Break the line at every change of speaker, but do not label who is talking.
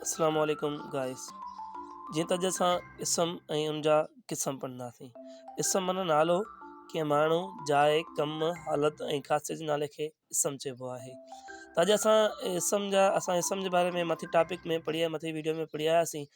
السلام عليڪم گائس جيئن ته اڄ اسان اسم ۽ ان جا قسم پڙهنداسين اسم معنيٰ نالو ڪنهن ماڻهو جاء ڪم حالت ۽ خاصيت جي نالي کي اسم چئبو آهي ته اڄ اسان اسم جا اسان اسم جي باري ۾ مٿي ٽاپڪ ۾ پڙهي مٿي ويڊيو ۾ پڙهي آياسين